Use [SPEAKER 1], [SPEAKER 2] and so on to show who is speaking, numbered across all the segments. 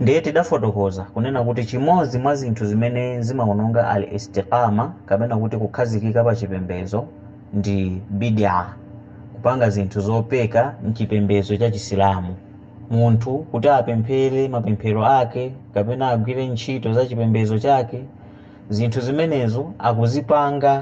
[SPEAKER 1] Ndiye tidafotokoza kunena kuti chimodzi mwa zinthu zimene zimaononga Al-Istiqaamah kapena kuti kukhazikika pa chipembedzo ndi bidi'ah, kupanga zinthu zopeka m'chipembedzo cha Chisilamu. Munthu kuti apemphere mapemphero ake kapena agwire ntchito za chipembedzo chake, zinthu zimenezo akuzipanga.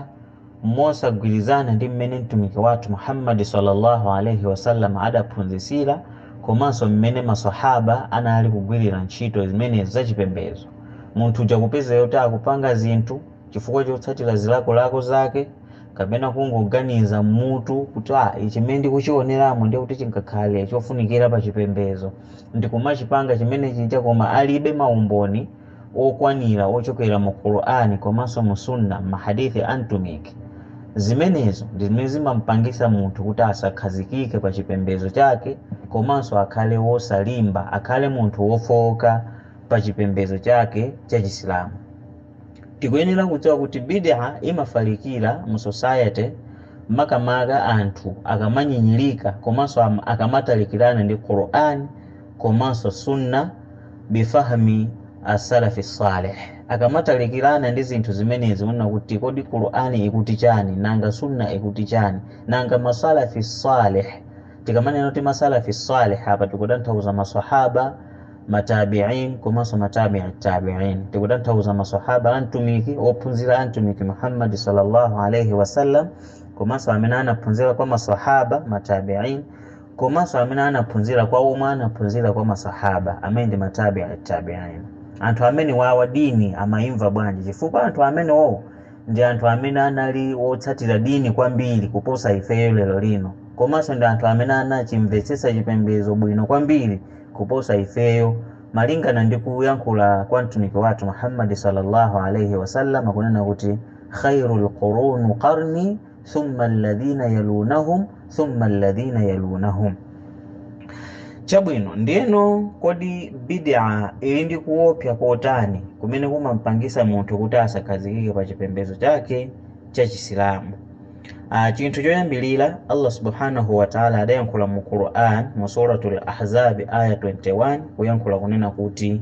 [SPEAKER 1] mosagwirizana ndi mmene mtumiki wathu muhammadi sallallahu alaihi wasallam adaphunzitsira komanso mmene maswahaba anali kugwirira ntchito zimenezo zachipembedzo munthu uja kupezeka kuti akupanga zinthu chifukwa chotsatira zilakolako zake kapena kungoganiza m'mutu kuti ah ichi mmene ndikuchioneramu ndiye kuti chingakhale chofunikira pa chipembedzo ndikumachipanga chimene chija koma alibe maumboni okwanira ochokera mu Qur'an komanso mu Sunnah ma hadith a Mtumiki. Zimenezo ndi zimene zimampangisa munthu kuti asakhazikike pa chipembezo chake komanso akhale wosalimba, akhale munthu wofooka pa chipembezo chake cha Chisilamu. Tikuyenera kudziwa kuti bid'ah imafalikira mu society makamaka anthu akamanyinyirika komanso akamatalikirana ndi Qur'an komanso Sunnah bi fahmi as-salafi salih. Akamatalikirana ndi zinthu zimenezi kunena kuti kodi Qur'an ikuti chani, nanga Sunnah ikuti chani, nanga ma Salafi salih, tikamanena kuti ma Salafi salih apa tikutanthauza ma Swahaba, ma Tabi'in komanso ma Tabi'i Tabi'in. Tikutanthauza ma Swahaba a Mtumiki, ophunzira a Mtumiki Muhammad sallallahu alayhi wasallam komanso amene anaphunzira kwa ma Swahaba, ma Tabi'in komanso amene anaphunzira kwa omwe anaphunzira kwa masahaba amene ndi matabi atabiin anthu amenewawa dini amaimva bwanji chifukwa anthu amenewowo ndi anthu amene anali otsatira dini kwambiri kuposa ifeyo lero lino komanso ndi anthu amene anachimvetsetsa chipembezo bwino kwambiri kuposa ifeyo malingana ndi kuyankhula kwa mtumiki wathu muhammadi sallallahu alaihi wasallam kunena kuti khairul quruni qarni thumma alladhina yalunahum thumma alladhina yalunahum chabwino ndiyeno kodi bid'a ili ndi kuopsa kotani kumene kumampangisa munthu kuti asakhazikike pa chipembedzo chake cha chisilamu chinthu choyambirira allah subhanahu wataala adayankhula mu quran mu suratul ahzabi aya 21 kuyankhula kunena kuti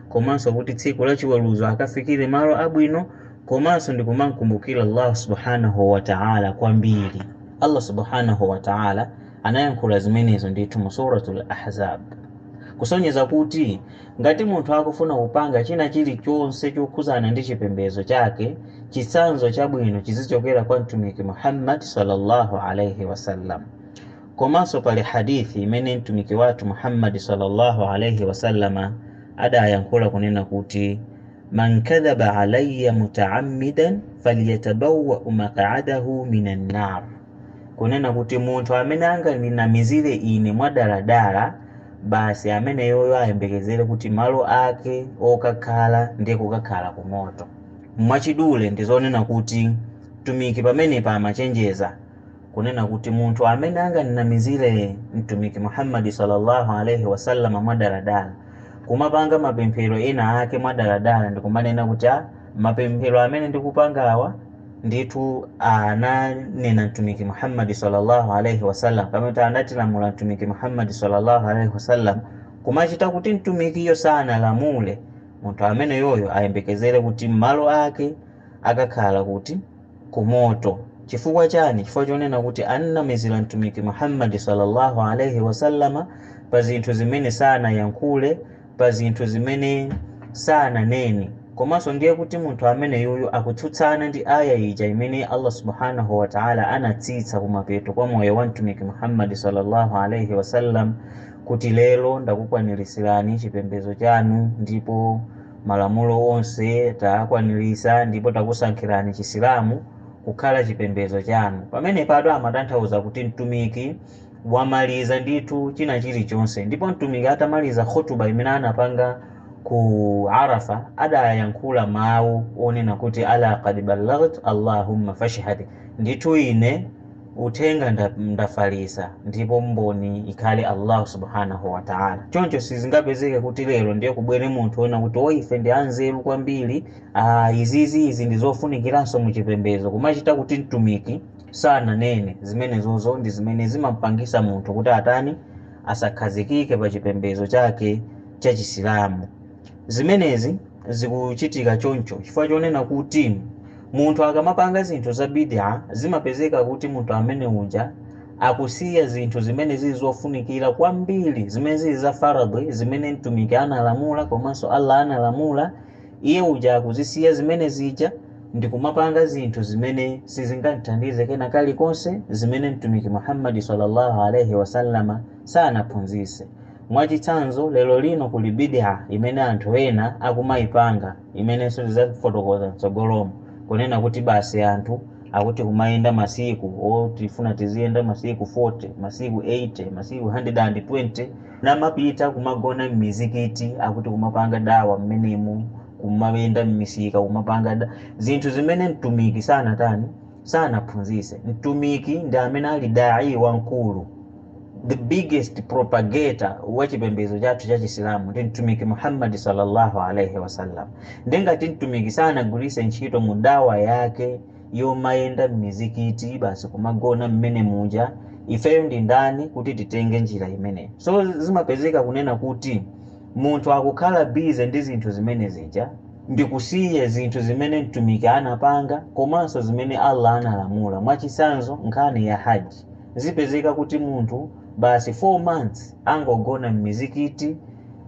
[SPEAKER 1] komanso kuti tsiku la chiweruzo akafikire malo abwino komanso ndi kumamkumbukira Allah subhanahu wa ta'ala kwambiri. Allah subhanahu wa ta'ala anayankhula zimenezo ndithu mu Suratul Ahzab kusonyeza kuti ngati munthu akufuna kupanga china chilichonse chokhudzana ndi chipembedzo chake, chitsanzo chabwino chizichokera kwa Mtumiki Muhammad sallallahu alaihi wasallam. Komanso pali Hadith imene Mtumiki wathu Muhammad salla Allah alaih wasallama adayankhula kunena kuti, Man kadhaba alayya mutaammidan falyatabawwau maq'adahu min annar, kunena kuti munthu amene angandinamizire ine mwadaladala, basi ameneyoyo ayembekezere kuti malo ake okakhala ndiye kukakhala ku moto. Mwachidule ndizonena kuti Mtumiki pamenepa amachenjeza kunena kuti munthu amene anganinamizire mtumiki muhammadi sallallahu alaihi wasallama mwadaladala kumapanga mapemphero ena ake mwadaladala ndikumanena kuti a mapemphero amene ndikupangawa ndithu ananena mtumiki muhammadi sallallahu alaihi wasallam kapena kuti anatilamula mtumiki muhammadi sallallahu alaihi wasallam kumachita kuti mtumikiyo sanalamule munthu ameneyoyo ayembekezere kuti malo ake akakhala kuti ku moto. Chifukwa chani? Chifukwa chonena kuti an'namizira Mtumiki Muhammad salla Allah alaih wasallam pa zinthu zimene sanayankhule, pa zinthu zimene sananene. Komanso ndiye kuti munthu ameneyoyo akutsutsana ndi aayah ija imene Allah subhaanah wa Ta'ala anatsitsa kumapeto kwa moyo wa Mtumiki Muhammad salla Allah alaih wasallam kuti, Lero ndakukwaniritsirani chipembedzo chanu ndipo. Malamulo onse taakwanirisa ndipo takusankhirani chisilamu kukhala chipembezo chanu. Pamenepatu amatanthauza kuti Mtumiki wamaliza ndithu china chilichonse. Ndipo Mtumiki atamaliza khutuba imene anapanga ku Arafa adayankhula mau onena kuti Alaa kad ballaght Allahumma fashhad, ndithu ine. uthenga nda, ndafalisa ndipo mboni ikhale allahu subhanahu wataala choncho sizingapezeke kuti lero ndiye kubwere munthu wina kuti o ife ndi anzeru kwambiri ah, izizi izi ndi zofunikiranso mu chipembedzo kumachita kuti mtumiki sananene zimenezozo ndi zimene zimampangisa munthu kuti atani asakhazikike pa chipembedzo chake cha chisilamu Zimenezi zikuchitika choncho chifukwa chonena kuti munthu akamapanga zinthu za bid'ah zimapezeka kuti munthu amene uja akusiya zinthu zimene zili zofunikira kwambiri zimene zili za faradhwi zimene Mtumiki analamula komanso Allah analamula, iye uja akuzisiya zimene zija ndikumapanga zinthu zimene sizingam'thandize kena kalikonse zimene Mtumiki Muhammad swalla Allahu alaih wasallam sanaphunzitse. Mwachitsanzo, lerolino kuli bid'ah imene anthu ena akumaipanga, imenenso tidzafotokoza m'tsogolomo, kunena kuti basi anthu akuti kumayenda masiku oh tifuna tiziyenda masiku 40, masiku 80, masiku 120, namapita kumagona m'mizikiti akuti kumapanga da'wah m'menemo, kumayenda m'misika kumapanga zinthu zimene Mtumiki sanatani? sanaphunzitse. Mtumiki ndi amene ali da'ii wamkulu, the biggest propagator wa chipembedzo chathu cha Chisilamu ndi Mtumiki Muhammad salla Allah alaih wasallam. Nde ngati Mtumiki sanagwiritse ntchito mu da'wah yake yomayenda mmizikiti basi kumagona mmene muja, ifeyo ndi ndani kuti titenge njira imeneyo? So zimapezeka kunena kuti. Munthu akukhala busy ndi zinthu zimene zija ndikusiya zinthu zimene Mtumiki anapanga komanso zimene Allah analamula, mwachitsanzo nkhani ya Hajj. Zipezeka kuti munthu basi 4 months angogona mmizikiti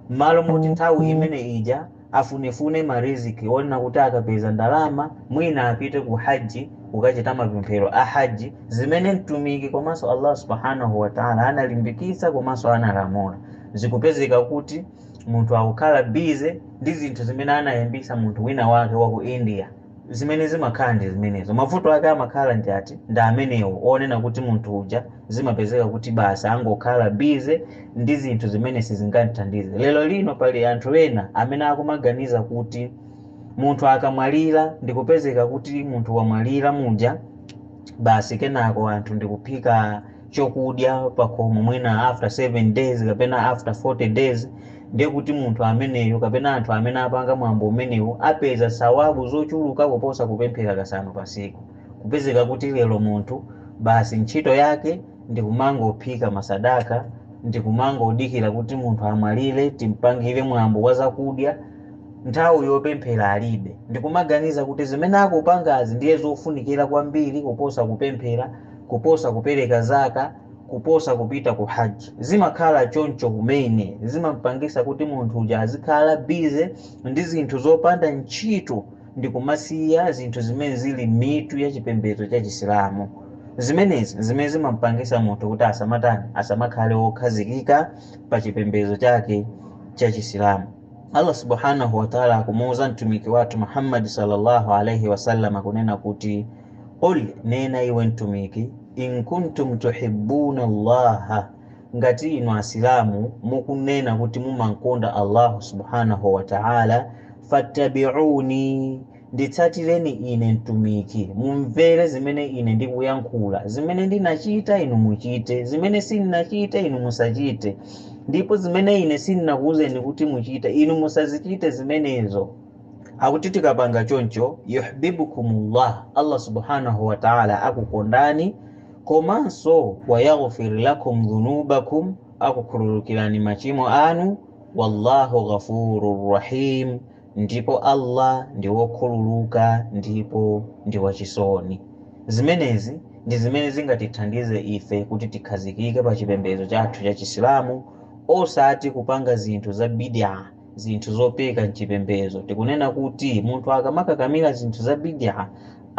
[SPEAKER 1] mmalo moti nthawi imene ija afunefune ma riziq onena kuti akapeza ndalama mwina apite ku Hajj kukachita mapemphero a Hajj zimene Mtumiki komanso Allah Subhaanah wa Ta'ala analimbikitsa komanso analamula. Zikupezeka kuti munthu akukhala busy ndi zinthu zimene anayambisa munthu wina wake wa ku India. Zimene zimakhala ndi zimenezo. Mavuto ake amakhala ndi ati? Ndi amenewo onena kuti munthu uja zimapezeka kuti basi angokhala busy ndi zinthu zimene sizingathandize. Lero lino pali anthu ena amene akumaganiza kuti munthu akamwalira ndi kupezeka kuti munthu wamwalira muja basi kenako anthu ndi kuphika chokudya pakhomo mwina after 7 days kapena after 40 days ndiye kuti munthu ameneyo kapena anthu amene apanga mwambo umenewo apeza sawabu zochuluka kuposa kupemphera kasanu pasiku kupezeka kuti lero munthu basi ntchito yake ndikumangophika masadaka ndikumangodikira kuti munthu amwalire timpangire mwambo wa zakudya nthawi yopemphera alibe ndikumaganiza kuti zimene akupangazi ndiye zofunikira kwambiri kuposa kupemphera kuposa kupereka zaka kuposa kupita ku haji zimakhala choncho kumene zimampangisa kuti munthu uja azikhala bize ndi zinthu zopanda ntchito ndi kumasiya zinthu zimene zili mitu ya chipembedzo cha chisilamu zimenezi zimene zimampangisa munthu kuti asamatani asamakhale wokhazikika pa chipembedzo chake cha chisilamu allah subhanahu wataala akumuuza mtumiki wathu muhammadi sallallahu alaihi wasallam kunena kuti Qul, nena iwe Mtumiki, in kuntum tuhibbuna Allaha, ngati inu Asilamu mukunena kuti mumamkonda Allahu Subhanahu wa Ta'ala, fattabi'uni, nditsatireni ine Mtumiki, mumvere zimene ine ndikuyankhula, zimene ndinachita inu muchite, zimene sinachite inu musachite, ndipo zimene ine sinakuuzeni kuti muchite inu musazichite zimenezo. Akuti tikapanga choncho, yuhbibkumullah, Allah Subhaanah wa Ta'la akukondani, komanso wa yaghfir lakum dhunubakum, akukhululukirani machimo anu, wallahu ghafurur rahim, ndipo Allah ndi wokhululuka ndipo ndi wachisoni. Zimenezi ndi zimene zingatithandize ife kuti tikhazikike pa chipembedzo chathu cha Chisilamu osati kupanga zinthu za bidi'a. zinthu zopeka mchipembezo. Tikunena kuti munthu akamakakamira zinthu za bidi'a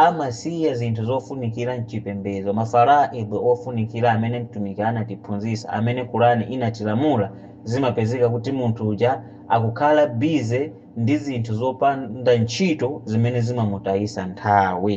[SPEAKER 1] amasiya zinthu zofunikira mchipembezo, ma faraidh ofunikira amene Mtumiki anatiphunzitsa, amene Qur'an inatilamula, zimapezeka kuti munthu uja akukhala busy ndi zinthu zopanda ntchito zimene zimamutayitsa nthawi.